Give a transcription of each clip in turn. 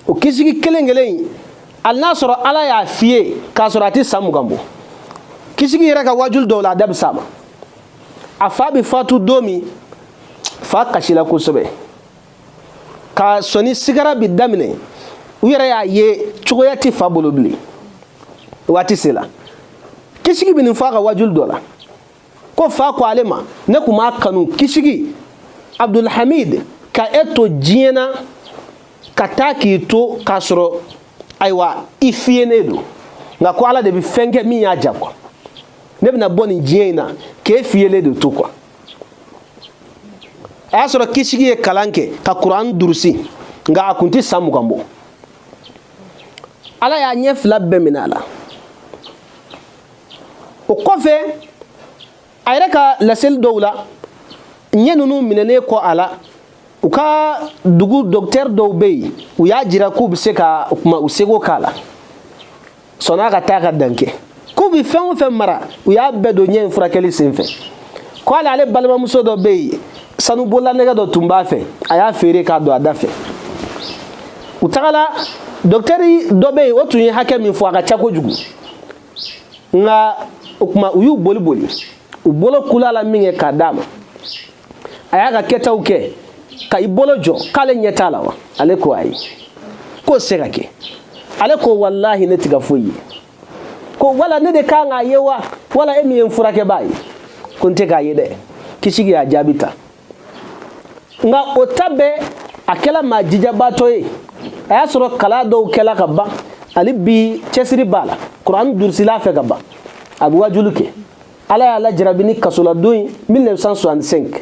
o kisigi kelen kelen in hali n'a sɔrɔ ala y'a fiyen k'a sɔrɔ a tɛ san mugan bɔ kisigi yɛrɛ ka wajuli dɔw la a da bɛ s'a ma a fa bɛ fatu don min fa kasila kosɛbɛ ka sɔni sigara bɛ daminɛ u yɛrɛ y'a ye cogoya tɛ fa bolo bilen waati sela kisigi bɛ nin fɔ a ka wajuli dɔ la ko fa ko ale ma ne tun b'a kanu kisigi abdulhamid ka e to diɲɛ na ka taa k'i to k'a sɔrɔ ayiwa i fiyenen don nka ko ala de bɛ fɛn kɛ min y'a ja quoi ne bɛna bɔ nin diɲɛ in na k'e fiyelen de to quoi a y'a sɔrɔ kisigi ye kalan kɛ ka kuran durusi nka a kun tɛ san mugan bɔ ala y'a ɲɛ fila bɛɛ minɛ a la o kɔfɛ a yɛrɛ ka laseli dɔw la ɲɛ ninnu minɛnen kɔ a la u ka dugu docteur dɔw bɛ yen u y'a jira k'u bɛ se ka u seko k'a la sɔnna ka taa ka dan kɛ k'u bɛ fɛn o fɛn mara u y'a bɛɛ don ɲɛ in furakɛli senfɛ ko hali ale balimamuso dɔ bɛ yen sanu bololanɛgɛ dɔ tun b'a fɛ a y'a feere k'a don a da fɛ u tagala docteur dɔ bɛ yen o tun ye hakɛ min fɔ a ka ca kojugu nka o tuma u y'u boli boli u bolo kula la minkɛ k'a d'a ma a y'a ka kɛtaw kɛ ka i bolo jɔ k'ale ɲɛ t'a la wa ale ko ayi k'o se ka kɛ ale ko walahi ne tɛ ka foyi ye ko wala ne de kan k'a ye wa wala e min ye n furakɛbaa ye ko n tɛ k'a ye dɛ kisigi y'a jaabi tan nka o ta bɛɛ a kɛla maa jijabaatɔ ye a y'a sɔrɔ kalan dɔw kɛla ka ban hali bi cɛsiri b'a la kuran durusila fɛ ka ban a bɛ wajulu kɛ ala y'a lajarabi ni kasoladon ye 1965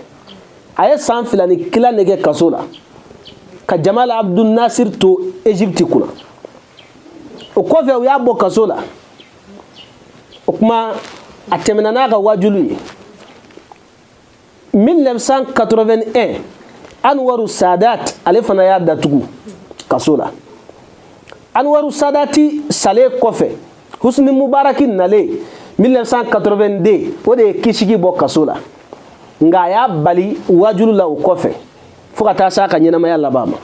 a ye san fila ni kila de kɛ kaso la ka jamal abdul nasir to egypte kunna o kɔfɛ u y'a bɔ kaso la o kuma a tɛmɛna n'a ka wajulu ye 1981 anwaru sadat ale fana y'a datugu kaso la anwaru sadati salen kɔfɛ husni mubaraki nalen 1982 o de ye kisigi bɔ kaso la nka a y'a bali wajulu la o kɔfɛ fo ka taa se a ka ɲɛnamaya laban ma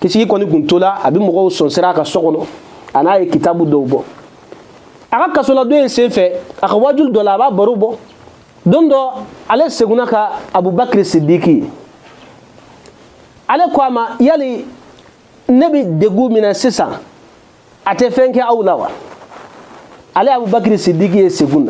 kisigi kɔni kun tola a bɛ mɔgɔw sɔnsira a ka so kɔnɔ an'a ye kitabu dɔw bɔ a ka kasoladon in senfɛ a ka wajulu dɔ la a b'a baro bɔ don dɔ ale sigona ka abubakiri sidiki ye ale ko a ma yali ne bɛ degun min na sisan a tɛ fɛn kɛ aw la wa ale abubakiri sidiki ye sigo na